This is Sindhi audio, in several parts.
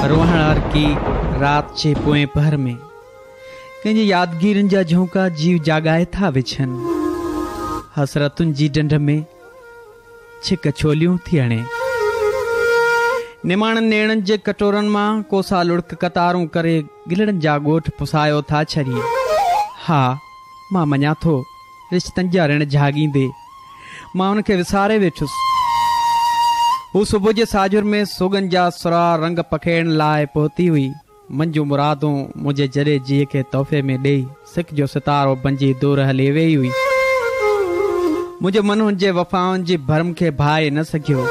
روهڻ عرقي رات جي پوئين پهر ۾ ڪنهن جي يادگيرين جا جهونڪا جيء جاڳائي ٿا وڇن. حسرتن جي ڍنڍ ۾ ڇڪ ڇوليون ٿي هڻي. نماڻن نيڻن جي ڪٽورن مان ڪوسا لڙڪ قطارون ڪري گلڙن جا ڳوٺ پسايو ٿا ڇڏين. ها! مان مڃان ٿو. رشتن جا رڻ جهاڳيندي، مان ان کي وساري ويٺس. هو صبح جي ساجهر ۾ سوڳن جا سرها رنگ پکيڙڻ لاء پهتي هئي. منهنجون مرادون منهنجي جري جيء کي تحفي ۾ ڏيئي، سڪ جو ستارو بنجي دور هلي ويئي هئي. منهنجو من هن جي وفائن جي ڀرم کي ڀائي نه سگهيو،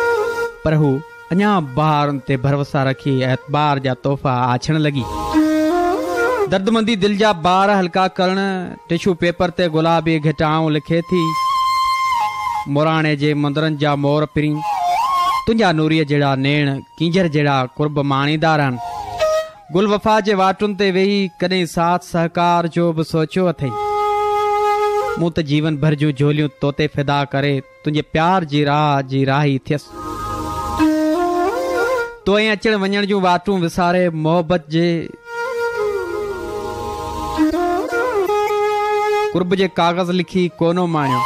پر هو. اڃا بهارن تي ڀروسا رکي اعتبار جا تحفا آڇڻ لڳي. دردمندي دل جا بار هلڪا ڪرڻ ٽشو پيپر تي گلابي گهٽائون لکي ٿي. موراڻي جي مندرن جا مور پرين تنهنجا نوريء جهڙا نيڻ ڪينجهر جهڙا قرب ماڻيندا رهن. گل وفا جي واٽن تي ويهي ڪڏهن ساٿ سهڪار جو به سوچيو اٿئي؟ مون ته جيون ڀر جون جهوليون توتي فدا ڪري تنهنجي پيار جي راهه جي راهي ٿيس. تو ۽ اچڻ وڃڻ جون واٽون وساري محبت جي قرب جي ڪاغذ لکي ڪونه ماڻيو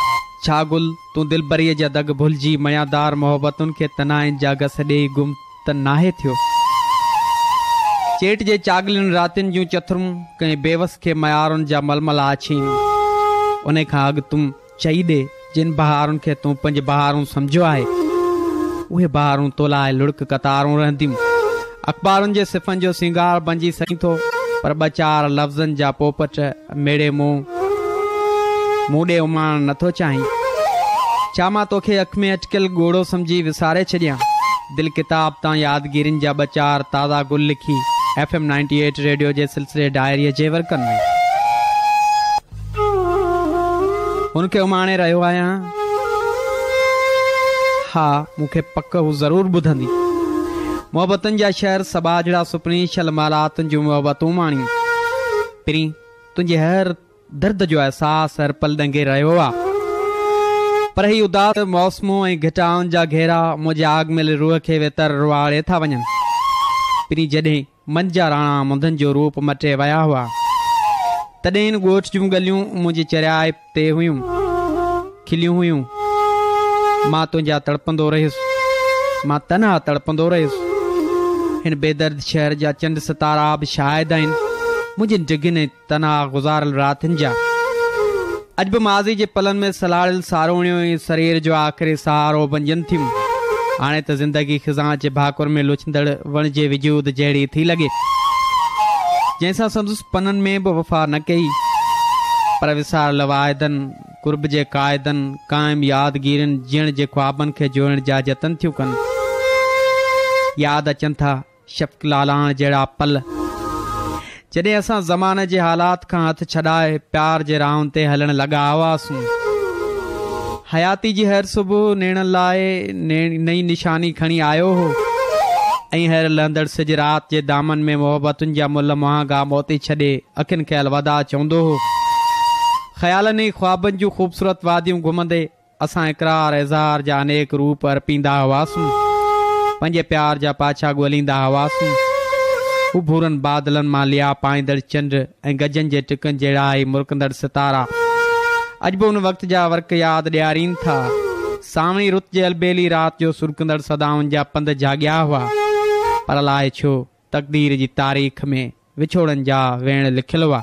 ڇا گل تون دلبريء جا دڳ ڀلجي ميادار محبتن کي تنهائين جا گس ڏيئي گم ته ناهي ٿيو چيٽ جي چاڳلين راتين جون چٿرون ڪنهن بيوس کي ميارن جا ململا اڇين انهي کان اڳ تون چئي ڏي، جن بهارن کي تون پنهنجي بهارون سمجهيو آهي، اهي بهارون تو لاء لڙڪ قطارون رهنديون. اخبارن جي صفحن جو سينگار بنجي سئين ٿو، پر ٻه چار لفظن جا پوپٽ ميڙي مون مون ڏي اماڻڻ نه ٿو چاهين. ڇا مان توکي اک ۾ اٽڪيل ڳوڙهو سمجهي وساري ڇڏيان؟ دل ڪتاب تان يادگيرين جا ٻه چار تازا گل لکي F M ninety eight radio جي سلسلي ڊائريء جي ورقن ۾. هن کي اماڻي رهيو آهيان. ها، مون کي پڪ هو ضرور ٻڌندي. محبتن جا شهر سٻاجهڙا سپني شل مالات جون محبتون ماڻي پرين تنهنجي هر درد جو احساس هر پل ڏنگي رهيو آ پر هي اداس موسمون ۽ گهٽائن جا گهيرا منهنجي آڳ ميلي روح کي ويتر روئاڙي ٿا وڃن پرين جڏهن منجھ جا راڻا منڌن جو روپ مٽي ويا هئا. تڏهن هن ڳوٺ جون ڳليون منهنجي چريائي تي هيون کليون هيون. مان تنهنجا تڙپندو رهيس. مان تنها تڙپندو رهيس. هن بيدرد شهر جا چنڊ ستارا به شاهد آهن منهنجين ڊگهين ۽ تنها گذاريل راتين جا اڄ به ماضي جي پلن ۾ سلهاڙيل ساروڻيون ئي سرير جو آخري سهارو بنجن ٿيون. هاڻي ته زندگي خزان جي ڀاڪر ۾ لڇندڙ وڻ جي وجود جهڙي ٿي لڳي، جنهن سان سندس پنن ۾ به وفا نه ڪئي، پر وساريل واعدن، قرب جي قاعدن، قائم يادگيرين، جيئڻ جي خوابن کي جوڙڻ جا جتن ٿيون ڪن. ياد اچن ٿا. شفق لالاڻ جهڙا پل جڏهن اسان زماني جي حالات کان هٿ ڇڏائي پيار جي راهن تي هلڻ لڳا هئاسون. حياتي جي هر صبح نيڻن لاء نئين نشاني کڻي آيو هو ۽ هر لهندڙ سج رات جي دامن ۾ محبتن جا ملهه مهانگا موتي ڇڏي اکين کي الوداع چوندو هو. خيالن ۽ خوابن جون خوبصورت واديون گهمندي، اسان اقرار اظهار جا انيڪ روپ ارپيندا هئاسون. پنهنجي پيار جا پاڇا ڳوليندا هئاسون. اڀورن بادلن مان ليئا پائيندڙ چنڊ ۽ گجن جي ٽڪن جهڙا هي مرڪندڙ ستارا اڄ به ان وقت جا ورق ياد ڏيارين ٿا. سانوڻي رت جي البيلي رات جو سرڪندڙ صدائن جا پنڌ جهاڳيا هئا. پر الاء ڇو؟ تقدير جي تاريخ ۾ وڇوڙن جا ويڻ لکيل هئا.